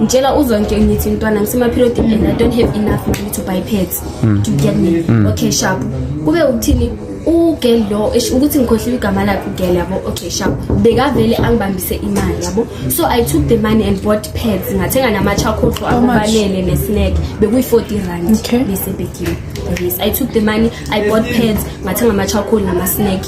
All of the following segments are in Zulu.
ngitshela uzonke ngithi mntwana ngisemaperiod and i don't have enough money to buy pads mm. to get me mm. okay sharp kube ukuthini ugel lo ukuthi ngikhohliwe igama lakhe ugel yabo okay sharp bekavele angibambise imali yabo so i took the money and bought pads ngathenga namachakhotho akufanele nesnack bekuyi-40 rand besebekile yes i took the money i bought pads ngathenga amachakholi namasnack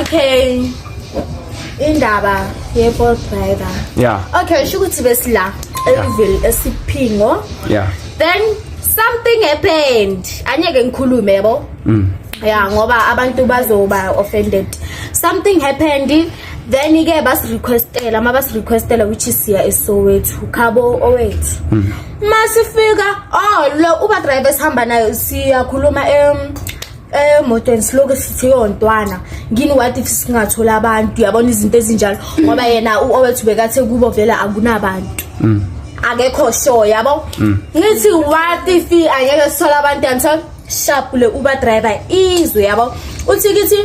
okay indaba ye-ball driver yeah okay sho ukuthi besila eliville esiphingo yeah then something happened anyeke ngikhulume yabo mm. ya ngoba abantu bazoba offended something happened then ke basirequestela uma basirequestela ukuthi siya esowethu khabo owethu hmm. masifika oh lo uba driver sihamba nayo siyakhuluma em emotweni siloke sithi yo ntwana ngini what if singathola abantu uyabona izinto ezinjalo ngoba yena u-owethu bekathe kubo vele akunabantu mm. akekho sure yabo mm. ngithi what if angeke sithola abantu and so shapule uba driver izwe yabo uthi kithi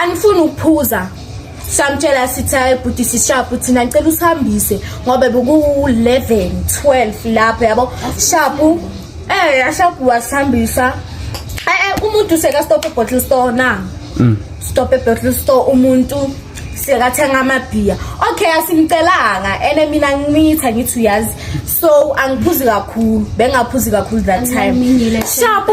angifuni ukuphuza samtshela sithi hayi bhuti sishapu thina ngicela usihambise ngoba beku-11 12 lapho yabo shapu Eh yashakuwa sihambisa. Eh, eh umuntu seka stop e bottle store na. Mm. Stop e bottle store umuntu sekathenga amabhiya okay asimcelanga ene mina ngimitha ngithi uyazi so angiphuzi kakhulu bengaphuzi kakhulu that time shabu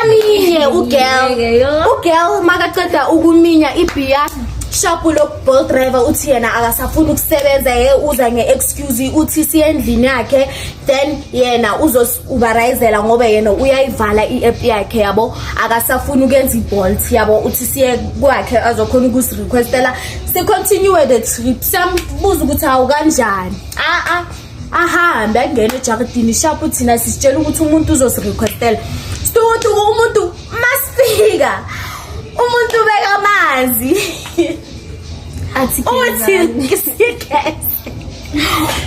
aminye ugirl ugirl makaceda ukuminya ibhiya shabu lo bolt driver uthi yena akasafuni ukusebenza ye uza nge-excuse uthi siyendlini yakhe then yena uzosiuberizela ngoba yena uyayivala i-app yakhe yabo akasafuni ukuyenza ibolt yabo uthi siye kwakhe azokhona ukusirequestela sicontinue the trip siyambuza ukuthi hawu kanjani a-a ahambe angene ejakidini shapu thina sisitshela ukuthi umuntu uzosirequestela stutu umuntu masifika umuntu ubeka amanzi athi uthi sikese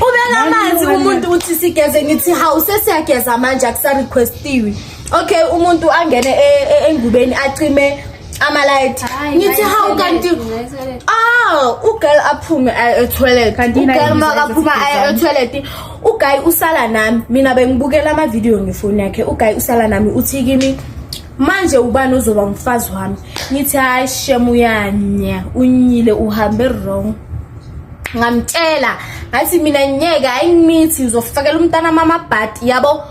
ubeka amanzi umuntu uthi sigeze ngithi hawu sesiyageza manje akusarequestiwe okay umuntu angene e- e- engubeni acime amalight Hayi, ngithi ngayi hawu toilet, kanti ngayi toilet. ah ugirl aphume aye etoilet Kanti yini ugirl ayizwa makaphuma ukuthi aye sigezani? etoilet uguy usala nami mina bengibukela amavidiyo ngefoni yakhe uguy usala nami uthi kimi manje ubani ozoba umfazi wami ngithi hayi shem uyanya unyile uhambe wrong ngamtshela ngathi mina ngeke ayimithi ngizofakela umntana mama bhadi yabo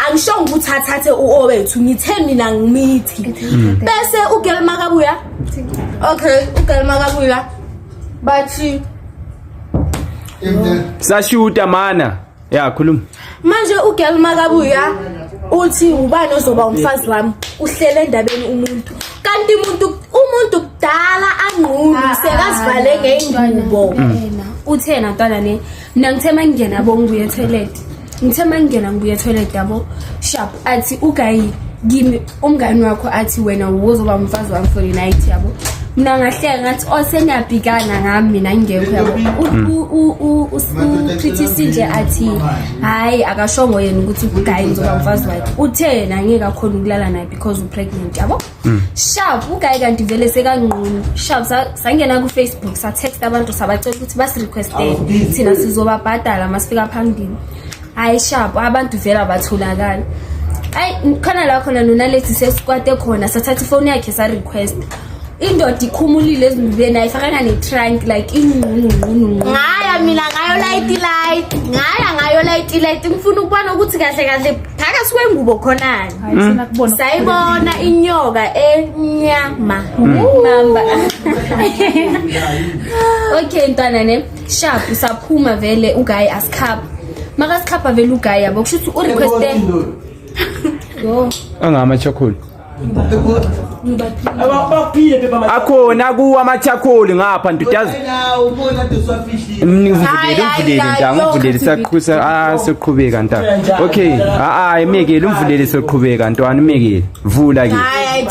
angisho ukuthi athathe uowethu ngithe mina ngimithi mm. bese ugirl makabuya okay ugirl makabuya bathi sashuta mana ya khuluma manje ugirl makabuya uthi ubani ozoba umfazi wami uhlele endabeni umuntu kanti umuntu umuntu kudala angqulu ah, sekazivale ah, ngeyingubo uthena ntwana ne mina ngithe mangingena bo ngibuye toilet ngithe mangingena ngibuye toilet yabo sharp athi ugayi kimi umngani wakho athi wena wozoba umfazi wami for the night yabo mina ngahleka ngathi o oh, seniyabhikana ngami mina ngingekho yabo ucritisi nje athi hhayi akashongo yena ukuthi ugayi ngizoba mfazi wakhe uthe yena ngeke akhona ukulala naye because upregnant yabo hmm. sharp ugayi kanti vele sekanqunu sharp sangena kufacebook satext abantu sabacela ukuthi basirequestele thina sizobabhadala masifika phambili hayi shapo abantu vele abatholakali ayi khona la khona nonalethi sesikwate khona sathatha ifoni yakhe sa-request indoda ikhumulile ezinubeni ayifakanga ne-trunk like ingqunungqununqu ngaya mina ngayo light light ngaya ngayo light light ngifuna ukubona ukuthi kahle kahle phakathi kwengubo khonani sayibona inyoka enyama mamba okay ntwana ne sharp usaphuma vele uguy asikhapha makasikhapha vele uguy yabo kusho ukuthi urequeste yo angama charcoal akhona kuwa amachakholi ngapha ndudazi mningivulele umvulele ntanga umvulele saqhusa ah soqhubeka ntanga okay ah ah imekele umvulele soqhubeka ntwana imekele vula ke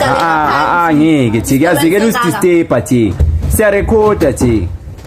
ah ah ngeke thi kuyazekela usidisturb thi siyarekhoda thi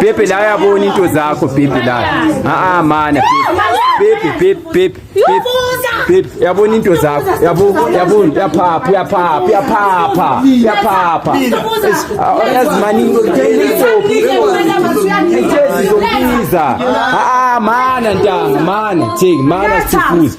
Pepe la yabona into zakho Pepe la. Ah ah mana Pepe Pepe Pepe Pepe yabona into zakho yabo yabo yaphapha yaphapha yaphapha yaphapha yazimani Ithezi zokubiza ah ah mana ntanga mana thing mana sifuza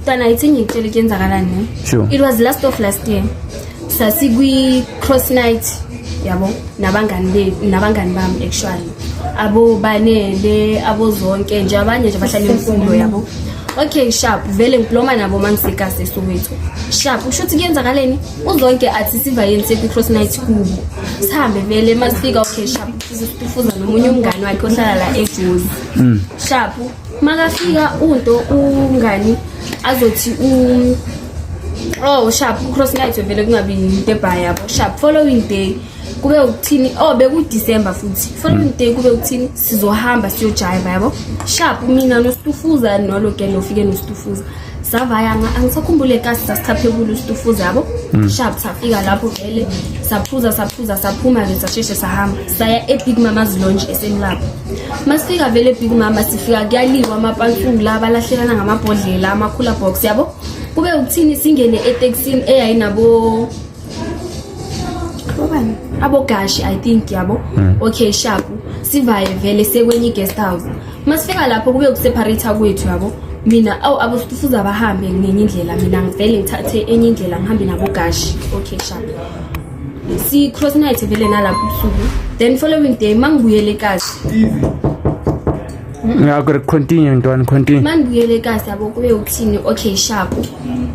Mntana ithi ngikutshela ukuthi yenzakalani. Sure. It was last of last year. Sasikwi cross night yabo nabangani be nabangani bami actually. Abo banele abo zonke nje abanye nje bahlala imfundo yabo. Okay sharp vele ngibloma nabo mangiseka sesowethu. Sharp usho ukuthi kuyenzakaleni? Uzonke athi siva yini sekwi cross night kubo. Sihambe vele masifika okay sharp sifuza nomunye umngani wakhe ohlala la eGoli. Mm. Sharp makafika unto ungani azothi u oh sharp cross night vele kungabi into ebhayi yabo sharp following day kube ukuthini oh bekudecember futhi following day kube ukuthini sizohamba siyojayiva yabo sharp mina nostufuza nolo ke nofike nostufuza savaya angisakhumbule kasi sasichaphe kulo stufuza yabo mm. sharp safika lapho vele saphuza saphuza saphuma-ke sasheshe sahamba saya ebig mama's longe esemlapho masifika vele big mama sifika kuyaliwa amapansungu la balahlelana ngamabhodlela amakhula box yabo kube ukuthini singene etekisini eyayinabo obani abogashi i think yabo hmm. okay sharp sivaye vele sekwenye i-guest house masifika lapho kube ukuseparata kwethu yabo mina awu abafuza bahambe ngenye indlela mina ngivele ngithathe enye indlela ngihambe nabogashi okay sharp si-cross night vele nalapho ubusuku then following day uma ngibuyele ekasi ngakho continue ntwana continue uma ngibuyele ekasi yabo kube ukuthini okay sharp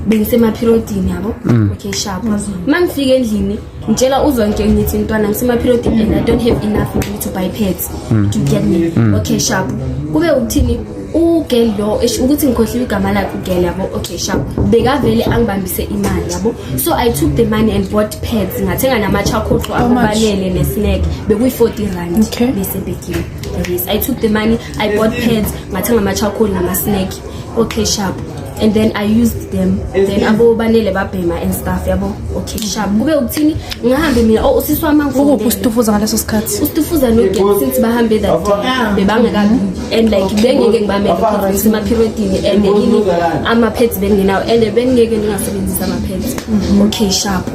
bengisemaphirodini yabo mm. okay sharp uma ngifika endlini ngitshela uzwa nje ngithi ntwana ngisemaphirodini and i don't have enough money to buy pads mm. do you get me mm. okay sharp kube uthini ugirl lo esho ukuthi ngikhohliwe igama lakhe ugirl yabo okay sharp bekavele angibambise imali yabo so i took the money and bought pads ngathenga namachakhoqo akubalele nesnack bekuyi-40 rand okay. besebekile yes i took the money i bought pads ngathenga amachakhoqo namasnack okay sharp and then i used them then abo banele babhema and stuff yabo okay sharp kube ukuthini ngihambe mina oh usisi wami angikuphi usitufuza ngaleso sikhathi usitufuza no game since bahambe that day bebangekabi and like bengeke ngibamele kodwa sema periodini and yini ama pads benginawo and bengeke ningasebenzisa ama pads mm-hmm. okay sharp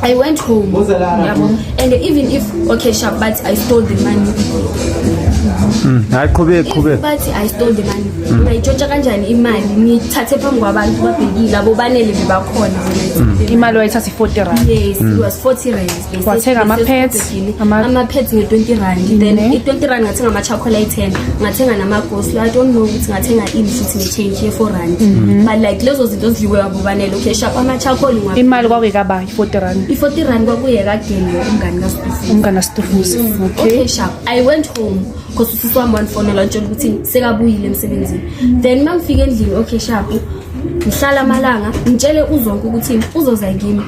I went home. Yabo. And even if okay, sharp, but I stole the money. Mm. Hayi qhubeke qhubeke. Bathi I stole the money. Mm. Ngayitshotsha kanjani imali? Ngithathe phambi kwabantu babhekile abo banele bebakhona. Mm. Imali wayithatha 40 rand. Yes, it was 40 rand. Wathenga ama pads, ama pads nge 20 rand. Then i 20 rand ngathenga ama chocolate 10, ngathenga nama ghost. I don't know ukuthi ngathenga ini futhi ne change ye 4 rand. Mm-hmm. But like lezo zinto zidliwe ubanele ukhesha kwamachakholi ngwa imali kwakuyikaba i-40 rand i-40 rand kwakuye kadeni umngani kastufuzi umngani kastufuzi mm, okay ukhesha i went home because usisi wami wandifonela ntshela ukuthi sekabuyile emsebenzini then uma ngifika endlini okhesha ngihlala amalanga ngitshele uzonke ukuthi uzoza kimi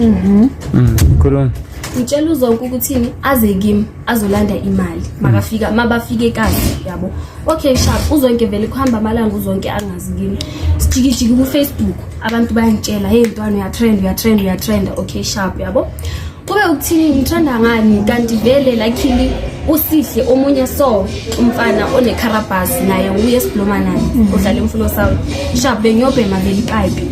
mhm mm, khuluma ngitshela uzonke ukuthini aze kimi azolanda imali makafika mabafike kahle yabo okay sharp uzonke vele kuhamba amalanga uzonke angazi kimi sijikijiki kufacebook abantu bayangitshela hey mntwana uyatrend uyatrend uyatrenda okay sharp yabo kube ukuthini ngithanda ngani kanti vele lakhili usihle omunye so umfana onecharabas naye uye esiblomanayo mm. udlala imfuno sawo sharp bengiyobhema vele ipipe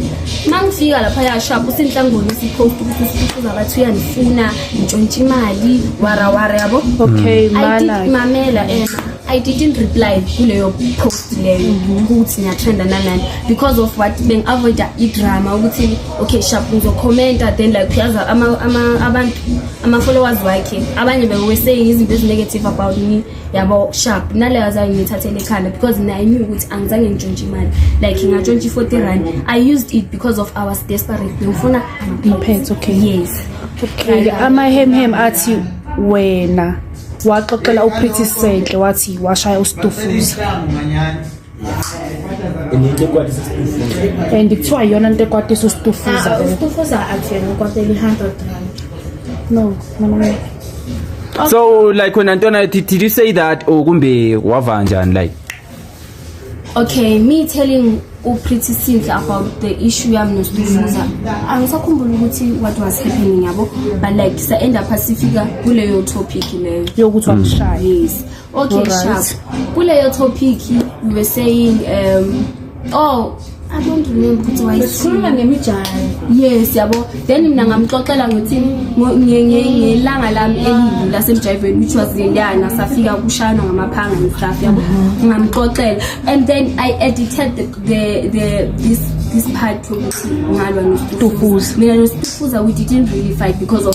uma ngifika lapha ya sharp usinhlangoni sipost ukuthi sifuza abathi uyandifuna ntshontsha imali warawara yabo okay mamela ena I didn't reply kuleyo post leyo mhm. ukuthi ngiyathanda nanani because of what bengi-avoida idrama ukuthi okay sharp ngizokhomenta then like uyazi abantu ama-followers wakhe abanye beweseying izinto ezi-negative about me yabo sharp naleyo azange ngiyithathele ekhanda because mina i knew ukuthi angizange ngitshontshe imali like ngatshontshe i-forty rand i used it because of our desperate bengifuna ngiphethe okay yes Okay, amahemhem athi wena waxoxela uPretty Sentle wathi washaya uStufuza. And kuthiwa iyona into ekwatisa uStufuza. Ah, uStufuza akuvela ukwatela i-100 rand. No, no, no. So like when Antona did, did you say that or kumbe wava njani like Okay, me telling uPretty Sinhle about the issue yami noStufuza. Angisakhumbula ukuthi what was happening yabo, but like sa end up sifika kuleyo topic leyo. Yokuthi wakushaya. Yes. Okay, sharp. Kuleyo topic you were saying um oh I don't remember ukuthi wayesikhuluma Sikhuluma ngemijaho. yes yabo then mina ngamxoxela ngokuthi ngo- nge- nge- ngelanga lami elibi lasemjayiveni which was le ndana safika kushayana ngamaphanga and stuff yabo ngamxoxela and then i edited the, the, the, this this part yokuthi ngalwa Tufuza. nostufuza mina nostufuza we didn't really fight because of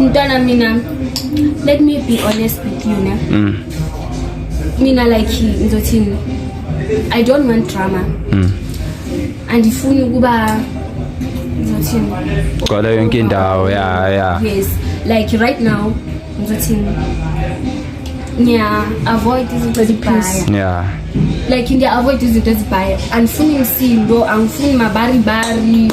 Mntwana mina let me be honest with you ne. Mm. Mina like ngizothini I don't want drama. Mm. Andifuni ukuba ngizothini. Gcwala yonke indawo ya ya. Yes like right now ngizothini ngiya avoid izinto ezibhaya yeah like ngiya avoid izinto ezibhaya angifuni msindo angifuni mabaribari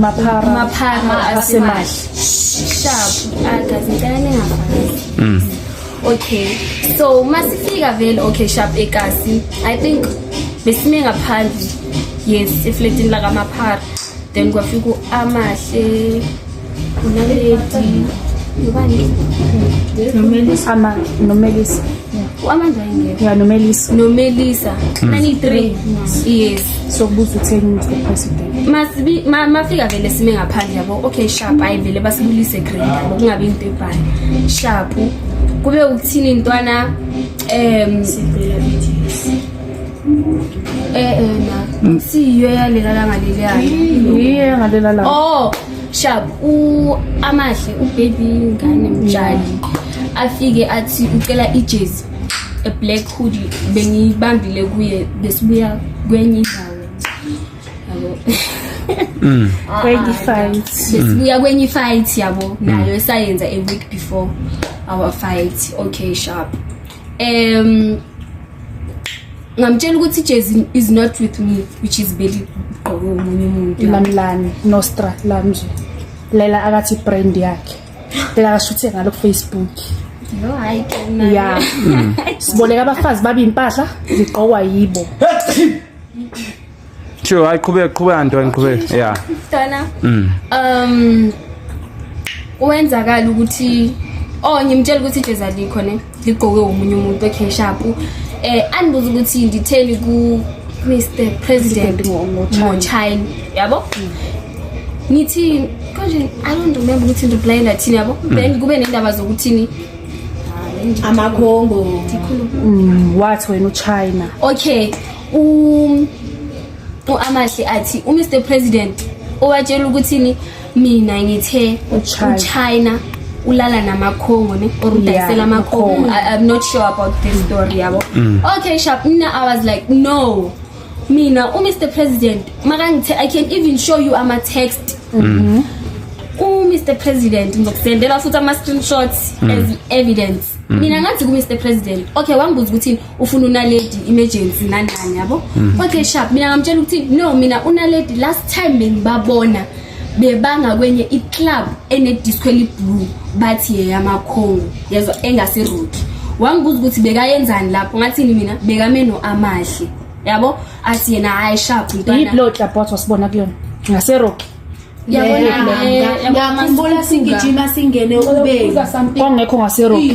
maphara maphara asemahle sharp agazi ah, ngicela ningafakisi mm okay so masifika vele okay sharp ekasi i think besime ngaphandle yes efletini lakamaphara then kwafika amahle nomelisa nomelisa amandla engekho ya nomelisa nomelisa hmm. nani 3 yes sokubuza utheni umuntu president masibi mafika vele sime ngaphandle yabo okay sharp ayi vele basibulise grade yabo kungabe into ebhayi sharp kube ukuthini intwana em eh eh na siyo yalela la ngaleli yayo yiyo ngalela la oh shab amahle ubaby ngane mtshali afike athi ucela ijezi a black hoodie bengiyibambile kuye besibuya kwenye indawo yabo mm. kwenye fight besibuya kwenye fight yabo nayo esayenza a week before our fight okay sharp um ngamtshela ukuthi ijezi is not with me which is beli igqoke omunye umuntu lamlani nostra lamnje lela akathi brand yakhe lela akashuthe ngalo kufacebook no hayi ya hmm. siboleka abafazi babe impahla zigqokwa yibo Sure, hayi qhubeka qhubeka Ntwana qhubeka. Yeah. Ntwana. Mm. Um kwenzakala ukuthi oh ngimtshela ukuthi ijezi alikho ne ligqoke umunye umuntu okay sharp eh andibuza ukuthi nditheni ku Mr President Mochine yabo mm. ngithi konje i don't remember ukuthi ndokulayela thini yabo mm. then kube nendaba zokuthini amakhongo mm, wathi wena uchina okay um uAmahle athi uMr President owatshela ukuthini mina ngithe uChina ulala namakhongo ne or udayisela amakhongo i'm not sure about this story yabo mm. okay sharp mina i was like no mina uMr President makangithe i can even show you ama text mm-hmm. uMr President ngizokusendela futhi ama screenshots mm. as evidence mm. mina ngathi kuMr President okay wangibuza ukuthi ufuna unaledi emergency nanani yabo mm. okay sharp mina ngamtshela ukuthi no mina unaledi last time bengibabona bebanga kwenye iclub enedisco eliblue bathi yeyamakhongo yezwa engaseroki wangibuza ukuthi bekayenzani lapho ngathini mina bekame no-amahle yabo athi yena hhayi sharp mntwanaiblodla bot wasibona kuyona ngaseroki yabonayabonakhumbula sigijima singene ubekongekho ngaseroki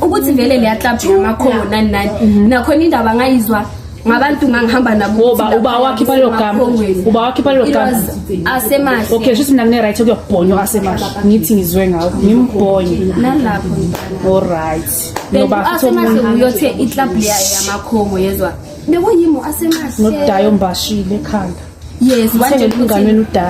ukuthi vele leya club yamakhomo nani nani mhm. nakhona indaba ngayizwa ngabantu ngangihamba nabo ngoba uba wakhe balogama uba wakhe balogama asemahle okay shuthi mina ngine right kuyobhonywa asemahle ngithi ngizwe ngawo ngimbhonye nalapho all right ngoba asemahle uyothe iclub leya yamakhongo yezwa bekuyimo asemahle nodayo mbashile ekhanda yes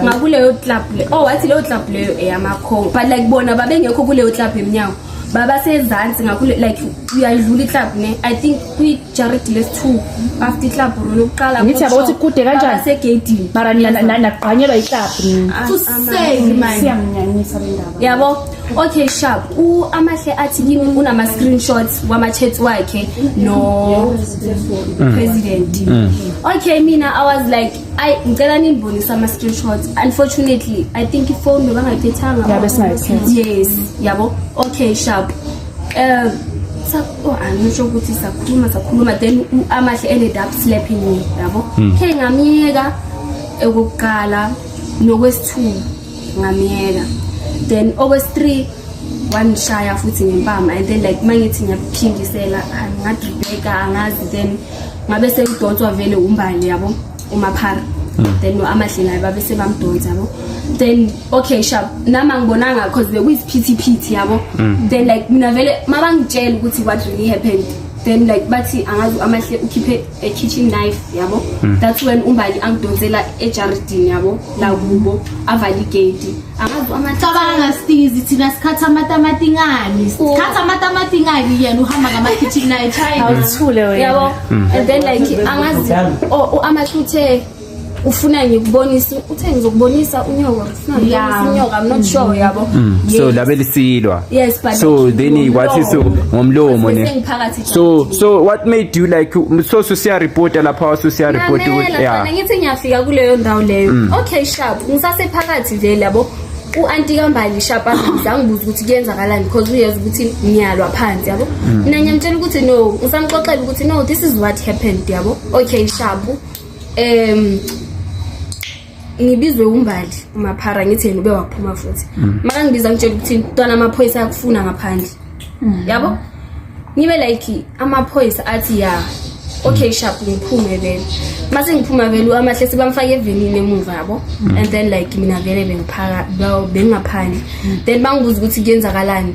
ngakuleyo club le oh wathi leyo club leyo eyamakhongo but like bona babengekho kuleyo club emnyango babasezansi ngakho like uyayidlula iclub ne i think kwi-jared les two after iclub rona ukuqala ngithi yabo ukuthi kude kanjaniasegedini mara nagqanyelwa iclub ah, yabo Okay sharp u amahle athi kimi unama screenshots wama chats wakhe no mm. president mm. okay mina i was like i ngicela ninibonisa ama screenshots unfortunately i think ifone bangayithethanga yabe singayithetha yes yabo okay sharp eh oh, angisho ah, ukuthi sakhuluma sakhuluma then amahle ended up slapping me yabo mm. ke ngamyeka ekuqala nokwesithunzi ngamyeka then okwesi-three wangishaya futhi ngempama and then like mangithi ngiyaphindisela ngadribeka angazi then ngabe sengidonswa vele umbali yabo umaphara hmm. then no-amahle naye babe sebamdonsa yabo then okay sharp nami angibonanga cause bekuyisiphithiphithi yabo hmm. then like mina vele mabangitshela ukuthi what really happened then like bathi angazi amahle ukhiphe a kitchen knife yabo mm. that's when umbali angidonsela ejaridini yabo lakubo avale igedi cabanga stizi thina sikhatha amatamati ngani sikhatha amatamati ngani yena uhamba ngama-kitchen knife awuthule wena yabo mm. and then like angazi amahluthe ufuna ngikubonisa uthe ngizokubonisa unyoka ufuna ngikubonisa unyoka i'm not sure yabo mm. so labe lisilwa yes but so then what is ngomlomo ne so so what made you like so so siya reporter lapha so siya report ukuthi yeah ngithi ngiyafika kuleyo ndawo leyo mm. okay sharp ngisase phakathi nje labo u-anti kambali shapa angibuza ukuthi kuyenzakalani because uyazi ukuthi ngiyalwa phansi yabo mm. mina ngiyamtshela ukuthi no ngisamxoxela ukuthi no this is what happened yabo okay shabu um ngibizwe umbali umaphara ngithi yena ube waphuma futhi mm. makangibiza ngitshela ukuthi mntwana amaphoyisa ayakufuna ngaphandle mm. yabo ngibe like amaphoyisa athi ya okay mm. sharp ngiphume vele mase ngiphuma vele uamahle sebamfake evenini emuva yabo and then like mina vele bengiphaka bengaphandle then bangibuza ukuthi kuyenzakalani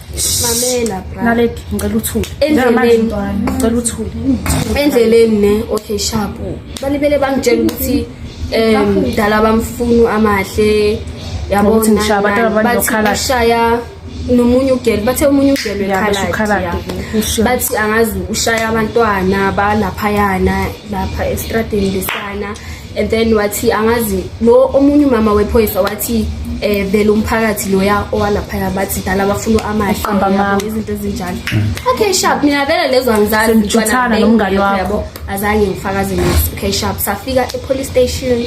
mamela bra naledi ngicela uthule endleleni ngicela uthule endleleni ne okay sharp balibele bangitshela ukuthi um dala bamfunu amahle yabo ngishaya nomunye ugelo bathe omunye ugelo ekhaladi bathi angazi ushaya abantwana balaphayana lapha estradini lesana and then wathi angazi lo omunye umama wephoyisa wathi eh vele umphakathi loya owalaphaya bathi dala bafuna amahle izinto ezinjalo okay sharp mina vele lezo angizazi ngitshana nomngane wakho azange ngifakaze ngithi okay sharp safika e police station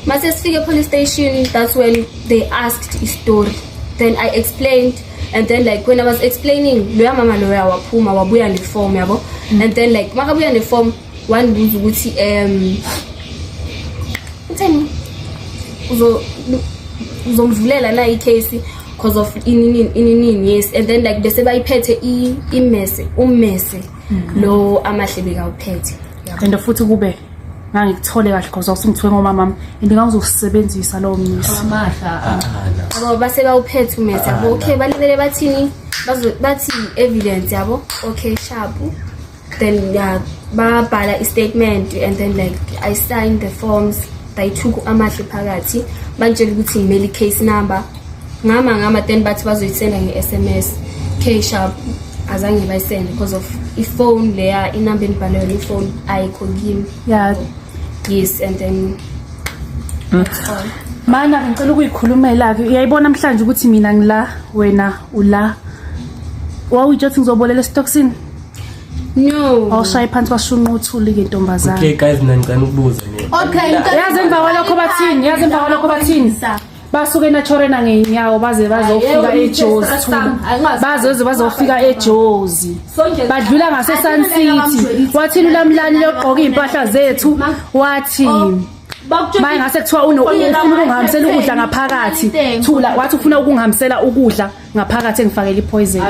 mase sifike e police station that's when they asked i story then i explained and then like when i was explaining loya mama loya waphuma wabuya ne form yabo and then like makabuya ne form wandibuza ukuthi um utheni uzomvulela na icase because of ininini ininini yes and then like bese bayiphethe imese ummese mm-hmm. lo amahle bekawuphethe and futhi kube ngangikuthole kahle because awusungithiwe ngomamami and ngangizosebenzisa lowo mnisi abo base bawuphethe umese yabo okay balibele bathini bathi evidence yabo okay shabu then yeah, babhala i-statement and then like i signed the forms bayithuku amahle phakathi bantshela ukuthi ngimele i-case number ngama ngama then bathi bazoyisenda nge-s m s k sharp azange bayisende because of ifone leya inumber endibhalwe yona ifone ayikho kimi yeah. yes and then mm. mana ngicela ukuyikhulumela-ke uyayibona namhlanje ukuthi mina ngila wena ula wawuyitsho ukuthi ngizobolela esitokisini No. Awushaye phansi washunqa uthuli ke ntombazana. Okay guys mina ngicela ukubuza nje. Okay, yazi emva kwalokho bathini, yazi emva kwalokho bathini. Basuke naturena ngeenyawo baze bazofika eJozi. Bazoze bazofika eJozi. Badlula ngase Sun City. Wathi lulamlani logqoka impahla zethu. Wathi oh. Maye ngase kuthiwa ufuna ukungihambisela ukudla ngaphakathi. Thula wathi ufuna ukungihambisela ukudla. ngaphakathi engifakela ipoison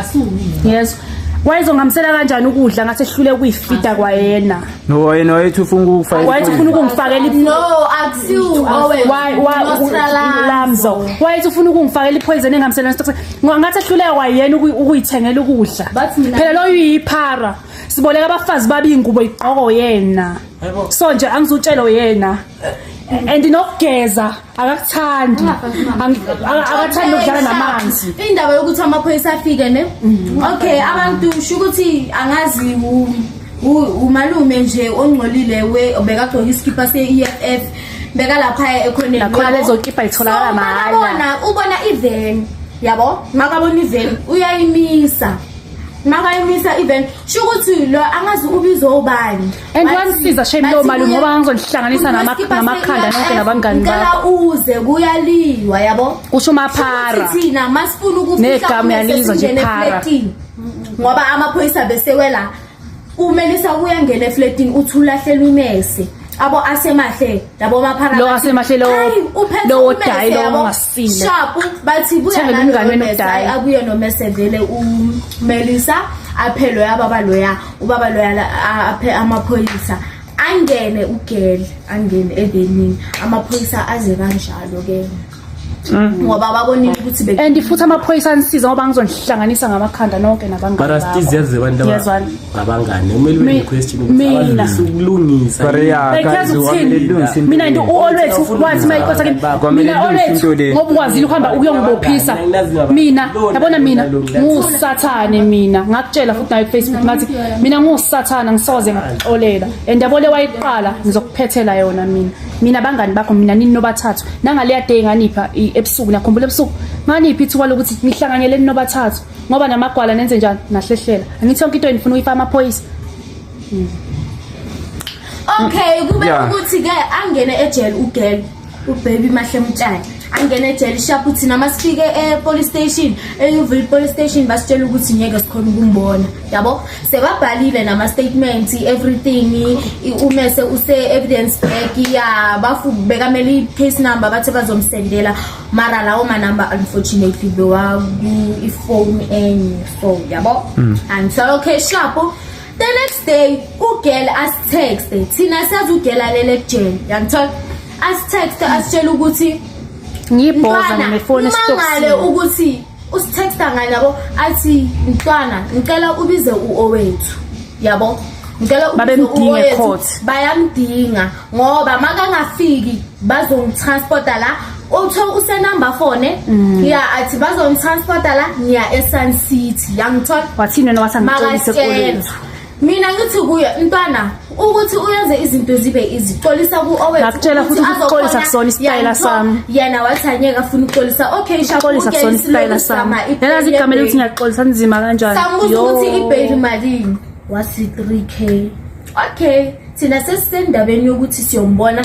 yes wayezongihambisela kanjani ukudla ngathi ehlule ukuyifida kwayena no yena wayethi ufuna ukufa wayethi ufuna ukungifakela no akusiwu lamzo wayethi ufuna ukungifakela ipoison engihambisela nesitokse ngathi ehluleka kwayena ukuyithengela ukudla phela loyo uyiphara siboleka abafazi babingubo igqoko yena so nje angizutshelo yena and nokugeza akakuthandi akathandi ukudlala namanzi indaba yokuthi amaphoyisa afike ne mm. okay abantu usho ukuthi angazi umalume nje ongcolile we bekagcoka isikipha se-eff bekalapha ekhoneni nakhona lezokipha itholakala mahhala ubona iven yabo makabona iven uyayimisa makayimisa iven sho ukuthi lo angazi ubizo ubani and wanisiza shame lowo malume ngoba ngangizonihlanganisa namakhanda nonke nabangani bakho uze kuyaliwa yabo kusho umaphara thina masifuna ukufikanegamu yalizwa nje phara ngoba amaphoyisa besewela umelisa kuyangena efletini uthi ulahlelwa imese abo asemahle labo maphara lo asemahle lo lo odayi lo ongasile shapu bathi buya nalo mese akuye nomese vele umelisa aphelwe ababa loya ubaba loyala aphe amaphoyisa angene ugele angene evenini amaphoyisa aze kanjalo ke Mm. ngoba babonile ukuthi be and futhi amaphoyisa anisiza ngoba ngizonihlanganisa ngamakhanda nonke nabangani but astizi yazi abantu abangani umele ube question mina ukulungisa bayazi ukulungisa mina into always wathi mayikosa kimi mina always ngoba ukwazile uhamba ukuyokubophisa mina yabona mina ngusathane mina ngakutshela nayo Facebook ngathi mina ngusathana ngisoze ngixolela and yabo le wayiqala ngizokuphethela yona mina mina bangani bakho mina nini nobathathu nangaleya day nganipha ebusuku nakhumbula ebusuku nganiphi ithuba lokuthi nihlanganyele nobathathu ngoba namagwala nenze njani nahlehlela angithi yonke into enifuna uyifa amaphoyisa hmm. okay kube ukuthi ke angene ejele ugel ubaby mahle mtshana angene ejele shaphu thina uma sifike e-police station eyuvula i-police station basitshela ukuthi ngeke sikhona ukumbona yabo sebabhalile nama-statements everything umese use-evidence back ya bafu bekamele i-case number bathe bazomsendela mara lawo manumber unfortunately bewaku-ifone enye so yabo mm. angisalo okay shaphu The next day ugirl asitexte thina sazi ugirl alele kujele yangithola asitexte asitshela ukuthi ngibhoza ngifone stokisile ukuthi usitexta ngani yabo athi mntwana ngicela ubize uowethu yabo ngicela babemdinge court bayamdinga ngoba makangafiki bazongitransporta la uthe usenumber fone mm. ya athi bazongitransporta la ngiya esun city yangithola wathini wena wasangicolisekulethu mina ngithi kuye mntwana ukuthi uyenze izinto zibe izixolisa kuowetshela futhi ukuxolisa kusona isitayela sami yena wathi anyeke afuna ukuxolisa okay shaxolisa kusona isitayela sami yena zigama lokuthi ngiyaxolisa nzima kanjani sambuza ukuthi ibail malini wasi 3k okay thina sesisendabeni yokuthi siyombona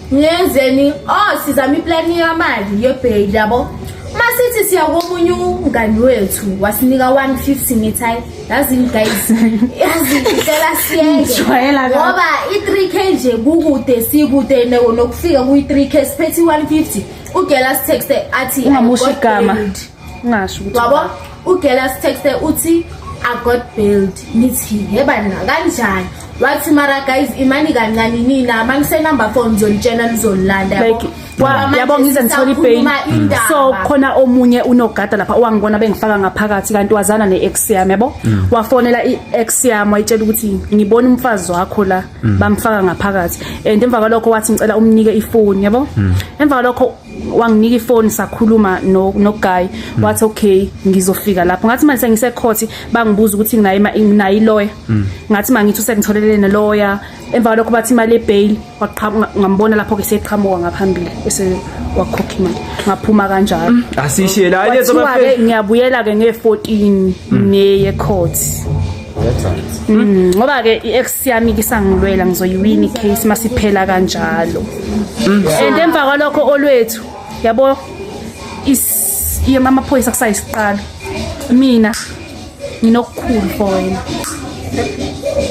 ngenzeni oh sizama iplani yamali yebheki yabo uma sithi siya komunye umngani wethu wasinika 150 ngithi hayi yazini guys yazicela siyeke ngoba i-3 k nje kukude sikude nokufika kuyi-3 k siphethe i-150 ugela sitexte athi ungamusha igama ungasho ukuthi wabo ugela sitexte uthi i got built nithi yebana kanjani wathi mara guys imani kancane nina mangisenumber phone ngizonitshela nizolilanda like yabo ngize ngithole ipain so khona omunye unogada lapha owangibona bengifaka ngaphakathi kanti wazana ne-ex yami yabo mm. wafonela i-ex yami wayitshela ukuthi ngibona umfazi wakho la mm. bamfaka ngaphakathi and emva kwalokho wathi ngicela umnike ifoni yabo mm. emva kwalokho wanginika ifoni sakhuluma noguy mm. wathi okay ngizofika lapho ngathi manje sengisekhothi bangibuza ukuthi nginayo nginayo iloya mm. ngathi mangithi usengitholele neloya emva kwalokho bathi imali yebail waqhamuka ngambona lapho ke seqhamuka ngaphambili ese wakhokha imali ngaphuma kanjalo mm. asishiye la ngiyabuye la ke nge 14 neye court Mm, ngoba ke i-ex yami kisangilwela ngizoyiwina i-case masiphela kanjalo mm. and emva kwalokho olwethu yabo amaphoyisa kusayisiqalo mina nginokukhulu for wena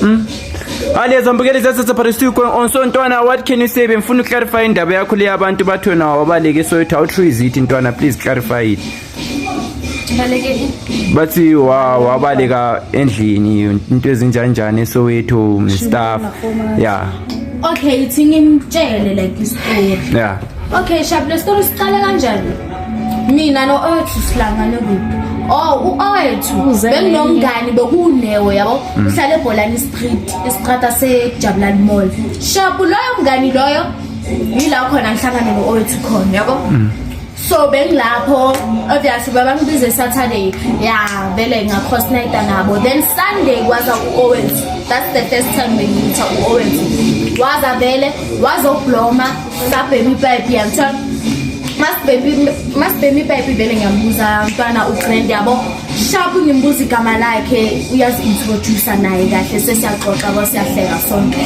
mm. Alezo zambukeli zasese Parisiko kwen onso ntwana what can you say bemfuna uclarify indaba yakho le yabantu bathona wabaleke so it how true is it ntwana please clarify it bathi wabaleka endlini into ezinjanjani esowethu nestaff ya okay ithi ngimtshele like istory ya okay shab le story siqale kanjani mina no owethu silangane kuphi oh u-owethu benginomngani bekuwunewo yabo mm. uhlala ebholani street isiqata sejabulani mall shabu loyo mngani loyo yila khona ngihlangane no-owethu khona yabo mm. so bengilapho obviously babangibize saturday ya vele ngakhost nayita nabo then sunday kwaza u-owens that's the first time bengitha u-owens waza vele wazobloma sabhema ipipe yangithiwa masibhema ipipe vele ngiyambuza mntwana ugrand yabo shapu ngimbuza igama lakhe uyazi-introducer naye kahle sesiyaxoxa kwasiyahleka sonke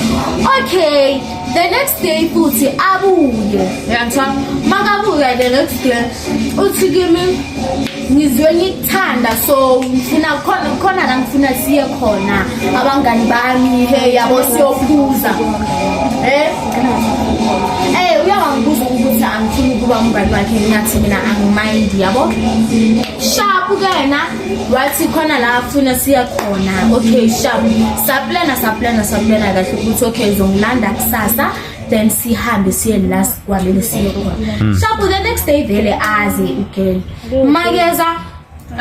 okay the next day futhi abuye yantwa makabuye the next day uthi kimi ngizwe ngikuthanda so ngifuna khona khona la ngifuna siye khona abangani bami he yabo siyophuza eh eh uyawangibuza ukuthi angifuni ukuba umngani wakhe ngathi mina angimayindi yabo sharp kena wathi khona la afuna siya khona okay sharp saplana saplana saplana kahle ukuthi okay ngizongilanda kusasa then sihambe siye la sikwamele siye khona hmm. sharp the next day vele aze ugirl makeza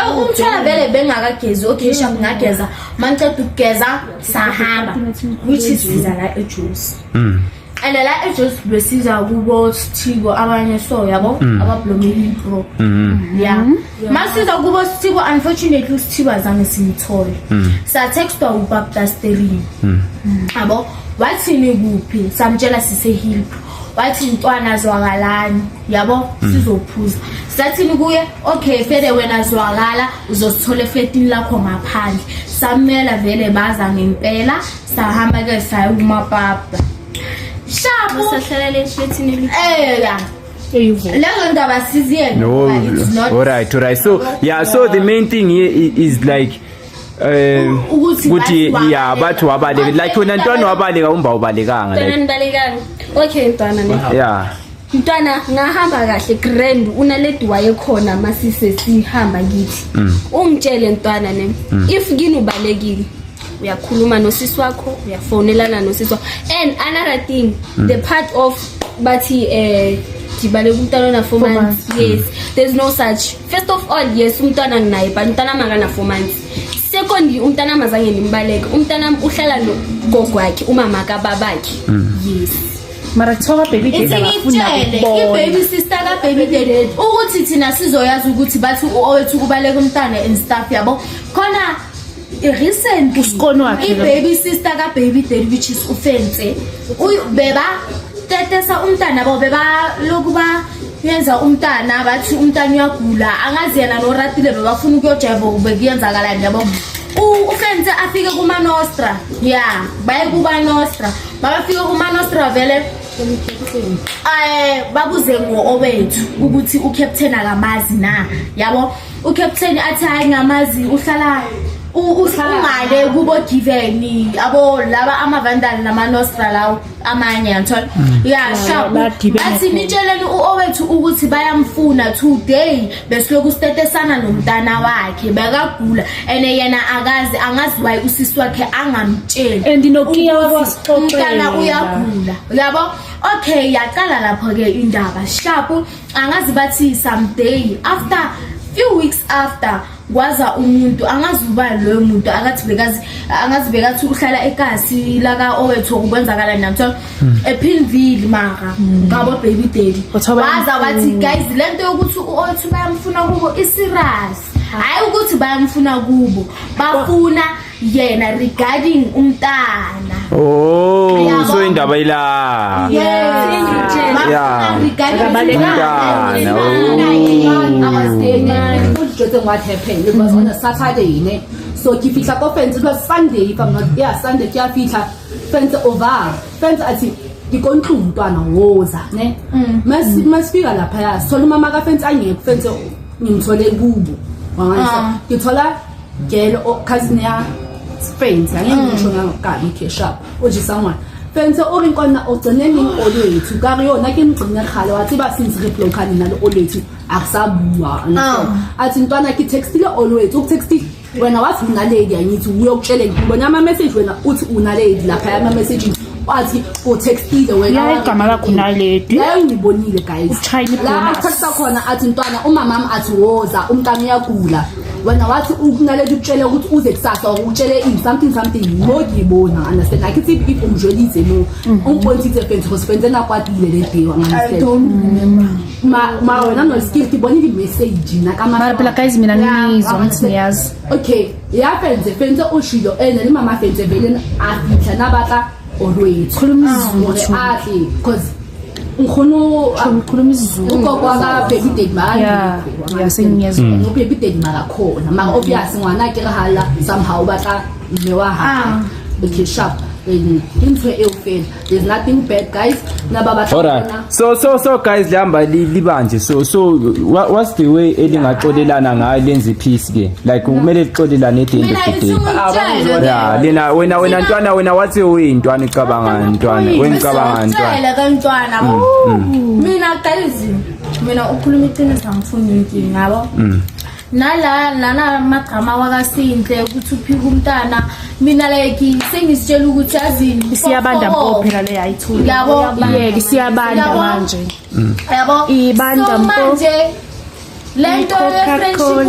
oh, umthwala vele bengakagezi okay sharp ngageza mangiceda ukugeza sahamba which is visa la ejuice hmm. and la ejosi besiza kubo sithiko abanye so yabo mm. abablomile bro mm-hmm. ya mm-hmm. masiza kubo sithiko unfortunately usithibo azange simthole mm. sathextwa ubaptasterini mm. yabo wathini kuphi samtshela sisehilp wathi ntwana zwakalani yabo sizophuza sathini kuye okay fede wena zwakala uzosithola efletini lakho ngaphandle samela vele baza ngempela sahamba ke saya kumapapa shabu sahlala leshithi neli ela lezo ndaba siziyele no all right all right so yeah so the main thing here is like eh ukuthi ya bathi wabaleka like wena ntwana wabaleka umba ubalekanga like okay ntwana ne yeah mntwana ngahamba kahle grand unaledi wayekhona masise sihamba ngithi mm. ungitshele mntwana ne mm. if kini ubalekile uyakhuluma nosisi wakho uyafonelana nosisi wakho and another thing mm. the part of bathi eh ndibaleka umntwana ona four months yes there's no such first of all yes umntwana nginaye but umntwana makana four months secondly umntana mazange nimbaleke umntana uhlala nogogo wakhe umama kababakhe mm. yes mara kuthiwa kababy dad abafuna ibaby sister kababy dad ukuthi thina sizoyazi ukuthi bathi uowethu kubaleka umntana and stuff yabo khona recent usikoni wakhe ibaby sister kababy dad which is ufense beba tetesa umntana babo beba lokuba yenza umntana bathi umntana uyagula angazi yena noratile bebafuna ukuyojeva kube kuyenzakalani yabo U- ufense afike kumanostra ya baye kubanostra babafike kumanostra vele um babuze ngo-owethu ukuthi ucaptain akamazi na yabo ucaptain athi hayi ngamazi uhlala u- u- ungale kubo-giveni abo laba amavandali namanostra lawo amanye yanthola uyasha bathi nitsheleni uowethu ukuthi bayamfuna today besilokhu sitetesana nomntana wakhe bekagula and yena akazi angazi waye usisi wakhe angamtsheli and nokiya wasixoxela uyagula uyabo okay yaqala lapho ke indaba sharp angazi bathi someday after few weeks after kwaza umuntu angazi uba loyo muntu akathi bekazi angazi bekathi uhlala ekasi laka owethu ukwenzakala namthola hmm. ephilvile mara hmm. ngabo baby daddy waza wathi guys lento yokuthi uowethu bayamfuna kubo iserious hayi ukuthi bayamfuna kubo bafuna yena regarding umntana oh Uyabo? so indaba ila Yeah. Umntana, sokifitlha ko fence ba sunday if i'm not yeah sunday ke a fitlha fence over fence athi ndikontlungu umntwana woza ne masifika lapha ya sola umama ka fence angekho fence ngimthole kubo Ah. ngithola Girl or cousin ya friends angeke mm. ngisho ngakabi khesha oje someone fense o re kwana o tsene ning o lwethu ka re yona ke mgcine kgale wa tseba since re bloka nina le o lwethu a re sa bua ah. a tse ntwana ke textile o lwethu o texti wena wathi unaledi angithi uyokutshele ngibona ama message wena uthi unaledi lapha ya ama message wathi go textile wena ya igama lakho naledi ya ngibonile guys la akuthatha khona athi ntwana umama wami athi woza umntana uyagula wena wathi ukunaleta ukutshela ukuthi uze kusasa ukutshele in something something ngokibona understand like if if umjwelise no mm-hmm. umpointi the fence because fence engakwatile le day wanganisela ma ma wena no skill tibona i message na kama mara pela guys mina nizwa ngithi niyazi okay ya fence fence oshilo ene ni mama fence vele afitha nabaka olwethu khuluma isizulu atli because ngifuna ukhuluma isizulu ugogo akabe bidedi maka yasengiyezwa mm. ngoba bidedi maka khona maka obvious ngwana ke hala somehow ba ka mme wa ha ah. okay sharp into e ufela there's nothing bad guys naba ba so so so guys lihamba li- libanje so so wha- what's the way elingaxolelana ngayo lenze peace ke like kumele lixolelane at the end of the day ya lena wena wena ntwana wena wathi uyintwana icabanga ntwana wena icabanga ntwana kantwana mina qala izimo mina ukhuluma iqiniso angifuni inkinga yabo nala nala magama wakasinhle ukuthi uphika umntana mina like sengisitshela ukuthi yazini isiyabanda mpo phela le yayithula yabo yeke isiyabanda manje mm. yabo ibanda mpo manje lento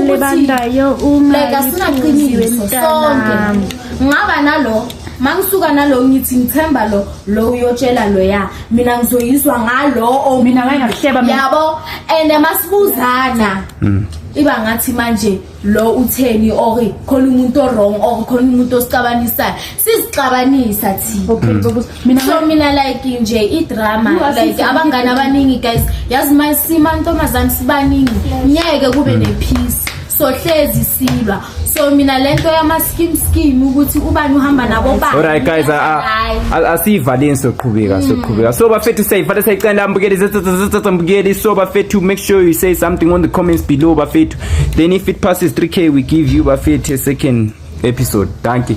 yebandayo uma like asinaqinile sonke ngaba nalo mangisuka nalo ngithi ngithemba lo lo uyotshela lo ya mina ngizoyizwa ngalo mina ngayingahleba yabo and masibuzana Mm. iba ngathi manje lo utheni or khona umuntu owrong or khona umuntu osixabanisayo sizixabanisa thina mm. so mina like nje idrama like abangani abaningi guys yazi masima ntombazane sibaningi ngeke kube mm. nepeace sohlezi silwa so mina lento yama skim skim ukuthi ubani uhamba nabo ba alright guys asiyivaleni soqhubeka mm. soqhubeka so bafethu sayivale sayicela ambukeli zetsatsa mbukeli so bafethu make sure you say something on the comments below bafethu then if it passes 3k we give you bafethu a second episode thank you